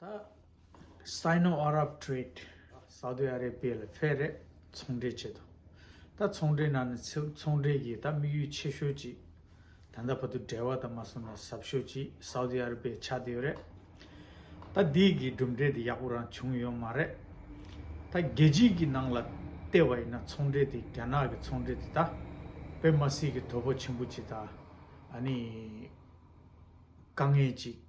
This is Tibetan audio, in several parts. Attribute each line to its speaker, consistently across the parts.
Speaker 1: ད། Sino Arab Trade། སཱའུ་ཏི་ཨ་རེ་པེ་ལ་ཕེ་རེས་ཚོང་འབྲེལ་བྱེད་དོ། ད་ཚོང་འབྲེལ་ནང་ནས་ཚེའུ་ཚོང་འབྲེལ་གྱི་ད་དམིགས་ཡུལ་ཆེ་ཤོས་ཅིག་ད་ད་བར་དུ་འབྲེལ་བ་ད་མ་སོང་ན་ཟབ་ཤོས་ཅིག་སཱའུ་ཏི་ཨ་རེ་པེ་ཆགས་ཏེ་ཡོད་རེད། ད་འདིའི་གི་གྲུབ་འབྲས་དེ་ཡག་པོ་རང་བྱུང་ཡོད་མ་རེད། ད་རྒྱལ་སྤྱིའི་གི་ནང་ལ་ལྟས་བ་ཡིན་ན་ཚོང་འབྲེལ་དེ་རྒྱ་ནག་གི་ཚོང་འབྲེལ་དེ་ད་བོད་མ་སི་གི་དོ་པོ་ཆེན་པོ་ཅིག་ད་ཨ་ནི་དཀའ་ངལ་ཅིག།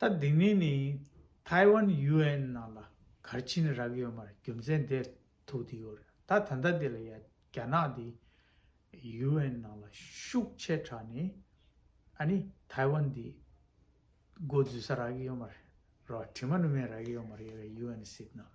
Speaker 1: ད་དེ་ངས་ནི་ཐའི་ཝན་ཡུ་ཨེན་ནང་ལ་གར་ཕྱིན་རག་ཡོད་མར་རྒྱུ་མཚན་དེ་ཐུག་དེ་ཡོད་རེད་ད་ད་ལྟ་དེ་ལ་ཡ་རྒྱ་ནག་དེ་ཡུ་ཨེན་ནང་ལ་ཤུགས་ཆེ་དྲག་ནས་ཨ་ནི་ཐའི་ཝན་དེ་མགོ་འཛུལ་ས་རག་ཡོད་མ་རེད་རོ་དྲི་མ་ནུ་མས་རག་ཡོད་མ་རེད་ཡུ་ཨེན་སྲིད་ནང་ལ་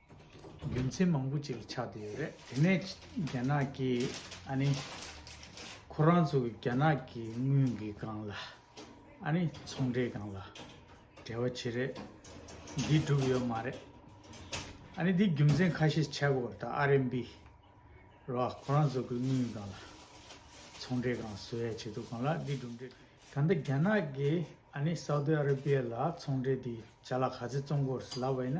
Speaker 1: རྒྱུ་མཚན་མང་པོ་ཅིག་ཆགས་བསྡད་ཡོད་རེད་དེ་ནས་རྒྱ་ནག་གིས་ཨ་ནི། ཁོ་རང་ཚོ་གི་རྒྱ་ནག་གི་དངུལ་གི་སྒང་ལ་ཨ་ནི་ཚོང་འབྲེལ་སྒང་ལ་འབྲེལ་བ་བྱེད་རེད་འདི་སྒྲུབ་ཡོད་མ་རེད། ཨ་ནི་འདི་རྒྱུ་མཚན་ཁ་ཤས་ཆགས་དགོས་ད་ཨ་རན་པི་རོ་ཁོ་རང་ཚོ་གི་དངུལ་སྒང་ལ་ཚོང་འབྲེལ་སྒང་བཟོ་ཡ་བྱེད་འདུག་གང་ལགས་འདི་སྒྲུབ་འབྲེལ་ད་ལྟ་རྒྱ་ནག་གིས་ཨ་ནི་སཱའུ་ཏི་ཨ་ར་པི་ཡ་ལ་ཚོང་འབྲེལ་འདི་བྱ་ལ་ག་ཚེ་བཙོང་དགོས་ལབ་བས་ན།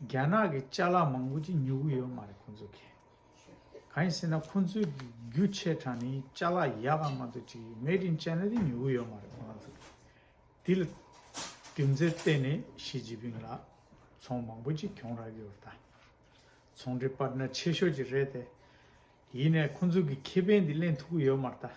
Speaker 1: རྒྱ་ནག་གི་བཅའ་ལག་མང་པོ་ཅིག་ཉོ་གི་ཡོད་མ་རེད་ཁོང་ཚོ་གིས། གང་ཡིན་ཟེར་ན་ཁོང་ཚོའི་གི་རྒྱུ་ཆའི་གྲངས་ནི་བཅའ་ལག་ཡག་གམ་མ་གཏོགས་ཅིག Made in China དེ་ཉོ་གི་ཡོད་མ་རེད་ཁོང་རང་ཚོ་གིས། དེ་ལ་རྒྱུ་མཚན་བསྟན་ནས་ཞི་ཅིན་ཕིང་ལ་ཚོང་མང་པོ་ཅིག་གྱོང་རག་གི་ཡོད་ད། ཚོང་འབྲེལ་པར་ནར་ཆེ་ཤོས་ཅིག་རེད་དེ། ཡིན་ནས་ཁོང་ཚོ་གིས་ཁེ་ཕན་དེ་གླེང་ཐུབ་གི་ཡོད་མ་རེད་ད།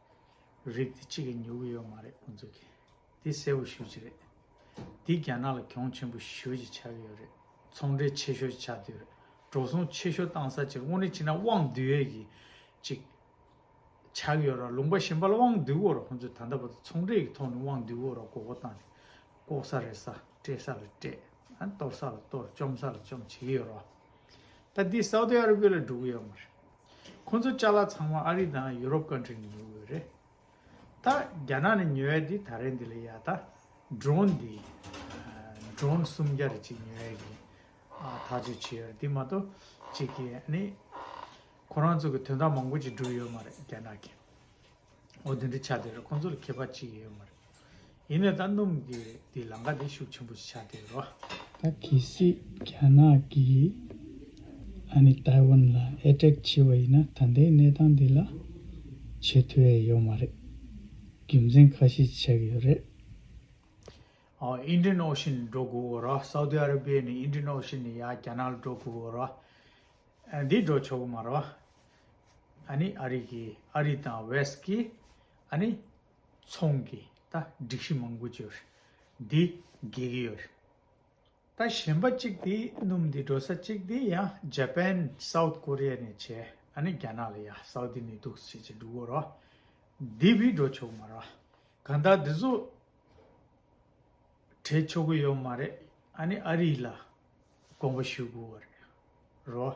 Speaker 1: རིགས་དེ་གཅིག་གིས་ཉོ་གི་ཡོད་མ་རེད་ཁོང་ཚོ་གིས་དེ་གསལ་བོ་ཞུ་རྒྱུ་རེད། དེ་རྒྱ་ནག་ལ་གྱོང་ཆེན་པོ་ཞུ་རྒྱུ་ཆགས་ཡོད་རེད་ཚོང་འབྲེལ་ཆེ་ཤོས་ཆགས་དུས་རེད་འགྲོ་སོང་ཆེ་ཤོས་བཏང་ས་ཅིག་དངོས་གནས་བྱས་ན་དབང་བསྡུད་ཡོད་ཀྱི་ཅིག་ཆགས་ཡོད་ར་ལུང་པ་གཞན་པ་ལ་དབང་བསྡུད་དགོས་ར་ཁོང་ཚོས་ད་ལྟ་བར་དུ་ཚོང་འབྲེལ་གྱི་ཐོག་ནས་དབང་བསྡུད་དགོས་ར་དགོས་མཁོ་བཏང་ནས་ལྐོག་ས་རེད་ས་སྤྲད་ས་ལ་སྤྲད་གཏོར་ས་ལ་གཏོར་བཅོམ་ས་ལ་བཅོམ་བྱེད་ཀྱི་ཡོད་ར་ད་དེ་སའུ་ཏི་ཨ་ར་བྷི་ལ་འགྲོ་གི་ཡོད་མ་རེད། ཁོ་ཚོ་བཅའ་ལ་ཚང་མ་ཨ་རི་དང་ཡུ་རོབ་ཀན་ཁྲི་ནས་ཉོ་དགོས་རེད། ད་རྒྱ་ནག་ནས་ཉོ་ཡ་དེ་ད་རེས་འདི་ལ་ཡ་ད Drone འདི Drone སུམ་བརྒྱ་རེ་གཅིག་ཉོ་ཡ་གི་ཐག་གཅོད་བྱེད་ཡོད་རེད་དེ་མ་གཏོགས་གཅིག་གི་ནི་ཁོ་རང་ཚོ་གི་དོན་དག་མང་པོ་ཅིག་འགྲུབ་ཡོད་མ་རེད་རྒྱ་ནག་གི། འོ་དེ་འདྲ་བྱ་དེ་རེད་ཁོང་ཚོ་ལ་ཁྱད་པར་ཅི་ཡོད་མ་རེད། ཡིན་ནའི་ད་སྣུམ་གྱི་དེ་ལང་ཀ་དེ་ཤུགས་ཆེན་པོ་ཞིག་བྱ་དེ་རེད། ད་གལ་སྲིད་རྒྱ་ནག་གིས་ཨ་ནི་ཏའེ་ཝན་ལ་ཨེ་དྲེག་བྱེད་པ་ཡིན་ན་ད་ལྟའི་གནས་སྟངས་འདི་ལ་བྱེད་ཐུ་ཡ་ཡོད་མ་རེད། རྒྱུ་མཚན་ཁ་ཤས་ཆགས་ཀྱི་ཡོད་རེད། Indian Ocean ནི་འགྲོ་དགོས་པོ་རེད Saudi Arabia ནི Indian Ocean ནི་ཡ་རྒྱ་ནག་ལ་འགྲོ་དགོས་པོ་རེད། འདི་འགྲོ་ཆོག་གི་མ་རེད། ཨ་ནི་ཨ་རིག་གི་ཨ་རི་དང་བེསད་ཀི་ཨ་ནི་ཚོང་གི་ད་སྒྲིག་གཞི་མང་པོ་བྱོས་འདི་དགེ་གི་ཡོད་ད་གཞན་པ་གཅིག་དེ་སྣུམ་དེ་འགྲོ་ས་གཅིག་དེ་ཡ་ཇཱ་པན་སའུཏ་ཀོ་རི་ཡ་ནས་བྱས་ཨ་ནི་རྒྱ་ནག་ལ་ཡ་སའུ་དི་ནི་འདུག་བྱས་བྱས་འགྲུག་གོ་རོ་དེ་བི་འགྲོ་ཆོག་མ་རོ་གང་ད་དེ་ཚོ་བྲེད་ཆོག་གི་ཡོད་མ་རེད་ཨ་ནི་ཨ་རིག་ལ་དགོངས་པ་ཞུ་དགོས་རོ།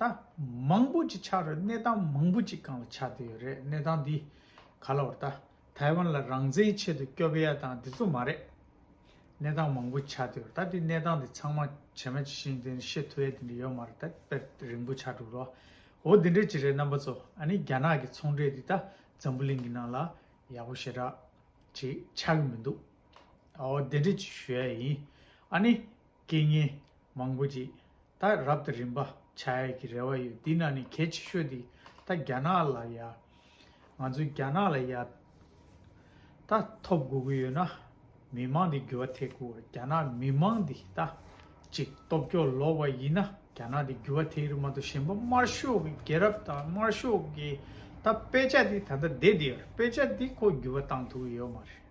Speaker 1: ད། མང་པོ་ཅིག་ཆགས་རེད་གནས་སྟངས་མང་པོ་ཅིག་གང་ལ་ཆགས་བསྡད་ཡོད་རེད་གནས་སྟངས་འདི་ག་ལ་བར་ད་ཐའི་ཝན་ལ་རང་བཙན་ཆེད་དུ་སྐྱོབས་ཡ་དང་འདི་ཚོ་མ་རེད། གནས་སྟངས་མང་པོ་ཆགས་བསྡད་ཡོད་རེད་ད་དེ་གནས་སྟངས་འདི་ཚང་མ་བྱེ་མ་ཇི་བཞིན་འདི་ཤེས་ཐུབ་ཡ་དེ་འདྲ་ཡོད་མ་རེད་ད་དཔེར་རིང་པོ་ཆགས་འགྲོ་རོ། འོ་འདི་འདྲ་ཅིག་རེད་རྣམ་པ་ཚོ་ཨ་ནི་རྒྱ་ནག་གི་ཚོང་འབྲེལ་འདི་ད་འཛམ་བུ་གླིང་གི་ནང་ལ་ཡག་པོ་ཞེ་དྲག་ཅིག་ཆགས་གི་མི་འདུག་འོ་འདི་འདྲ་ཅིག་ཞུ་ཡ་ཡིན་ཨ་ནི་རྐྱེན་ངན་མང་པོ་ཅིག་ད་རབ་ཏུ་རིམ་པ་བྱ་ཡས་ཀྱི་རེ་བ་ཡོད་འདི་ན་ནི་གལ་ཆེ་ཤོས་འདི་ད་རྒྱ་ནག་ལ་ཡ། ང་ཚོ་རྒྱ་ནག་ལ་ཡ། ད་ཐོབ་དགོས་ཀྱི་ཡོད་ན་མི་མང་འདི་འགྱུར་བ་ཐེག་དགོས་རྒྱ་ནག་མི་མང་འདི་ད་ཅིག་སྟོབས་སྐྱོ་ལོག་པ་ཡིན་ན་རྒྱ་ནག་འདི་འགྱུར་བ་ཐེག་རི་མ་ཏོ་གཞན་པ་དམར་ཤོག་གི་རྒྱལ་རབ་དང་དམར་ཤོག་གི་ད་དཔེ་ཆ་འདི་ད་ད་འདེད་འདི་ཡོད་རེད་དཔེ་ཆ་འདི་ཁོ་འགྱུར་བ་བཏང་ཐུབ་ཀྱི་ཡོད་མ་རེད།